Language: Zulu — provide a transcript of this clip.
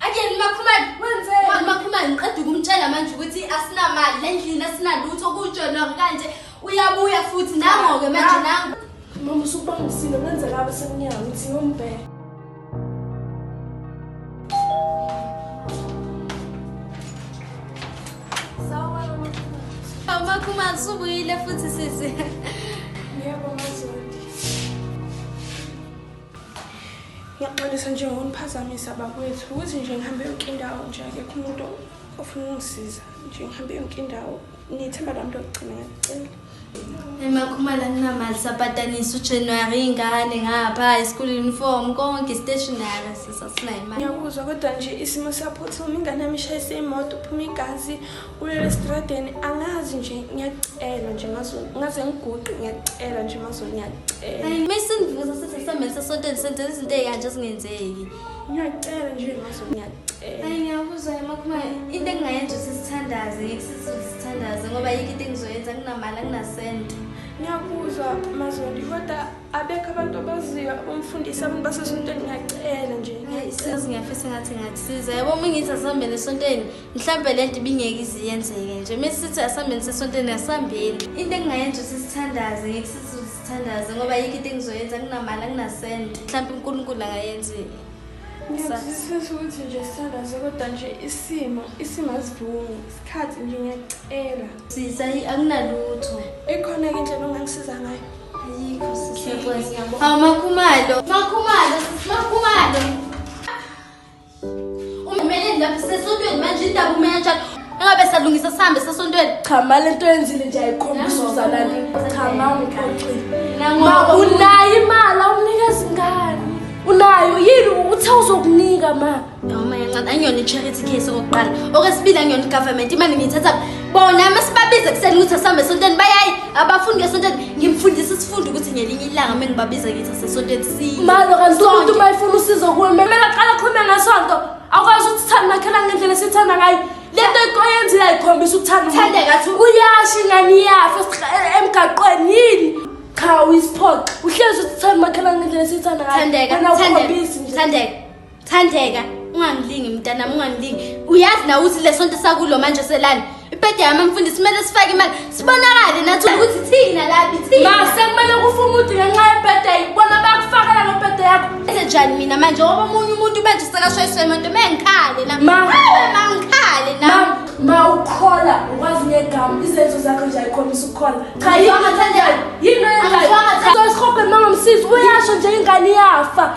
Again uMakhumalo wenzeni? Manje uMakhumalo ngiqeda ukumtshela manje ukuthi asinamali lendlini asinalutho kujona kanje uyabuya futhi nangoke manje nangu. Mama usubangisile kwenzeka abasemnyango uthi yombheka. Makhumalo subuyile futhi sisi. Yebo manje. ngiyaxolisa nje ngokuniphazamisa bakwethu ukuthi nje ngihambe yonke indawo nje akekho umuntu ofuna ukungisiza nje ngihambe yonke indawo ngithemba lami lokugcina ngiyacela emakhumala kunamali sapatanisa ujanuary ingane ngapha ischool uniform konke istationary sisasinayo imali ngiyakuzwa kodwa nje isimo siyaphuthuma ingane yami ishayise imoto uphuma igazi Kulele stradeni angazi nje ngiyakucela nje mazulu ngaze ngiguqe ngiyakucela nje mazulu ngiyakucela. Hayi mesingivuza sithi sisamele sesontweni senze izinto ezikanje zingenzeki. Ngiyakucela nje mazulu ngiyakucela. Hayi ngiyabuza emakhuma into engingayenza sisithandaze ngisizulu sithandaze ngoba yikho into engizoyenza kunamali kunasento. Ngiyakuzwa mazulu kodwa abekho abantu abaziyo abamfundisi abantu basesontweni ngiyacela nje. Hayi sizi ngiyafisa ngathi ngathi siza yabo uma ngithi asihambele esontweni mhlawumbe le nto ibingeke iziyenzeke nje uma sithi asihambeni sesontweni asihambeni into engingayenza ukuthi sithandaze ngeke sithi sithandaze ngoba yikho into engizoyenza kunamali anginasente mhlawumbe unkulunkulu angayenza ngiyazisisa ukuthi nje sithandaze kodwa nje isimo isimo asivumi isikhathi nje ngiyacela sisa akunalutho ikhona ke indlela ongangisiza ngayo ayikho sisiyabona hawu makhumalo makhumalo makhumalo Umeleni lapho sesontweni manje indaba umenjani? Engabe salungisa sihambe sesontweni. Cha mali into yenzile nje ayikhombisa uzalana. Cha mama uxoxile. Nangoba unayo imali awunika zingane. Unayo yini uthe uzokunika ma? Noma yancane angiyona i-charity case okokuqala. Okwesibili angiyona i-government imali ngiyithatha bona masibabize kuseni ukuthi asambe esontweni bayayi abafundi ngesontweni ngimfundisa isifundo ukuthi ngelinye ilanga uma ngibabiza ngithi asesontweni si malo kanti umuntu uma efuna usizo kuwe kumele aqala akhulume ngesonto akwazi ukuthanda nakhela ngendlela esithanda ngayo le nto oyenzile ayikhombisa ukuthanda ngathi uyashi ngani iyafa e- emgaqweni yini cha uyisiphoxa uhlezi uthanda umakhelwane ngendlela esithanda ngayo Thandeka, ungangilingi mntanami ungangilingi. Uyazi na ukuthi lesonto sakulo manje selani. Ibhede yami mfundisi kumele sifake imali. Sibonakale nathi ukuthi thina laphi thina. Ma sekumele kufunga ukuthi ngenxa yebhede ayibona bakufakela lo bhede yakho. Enze njani mina manje ngoba omunye umuntu manje sekashayiswa imoto mengikhale na. Ma mangikhale na. Ma ma ukhola ukwazi ngegama izenzo zakho nje ayikhombisa ukukhola. Cha yona Thandeka. Yini oyenzayo? Angizwanga, Thandeka. Sosihobhe mangomsizi uyasho nje ingane iyafa.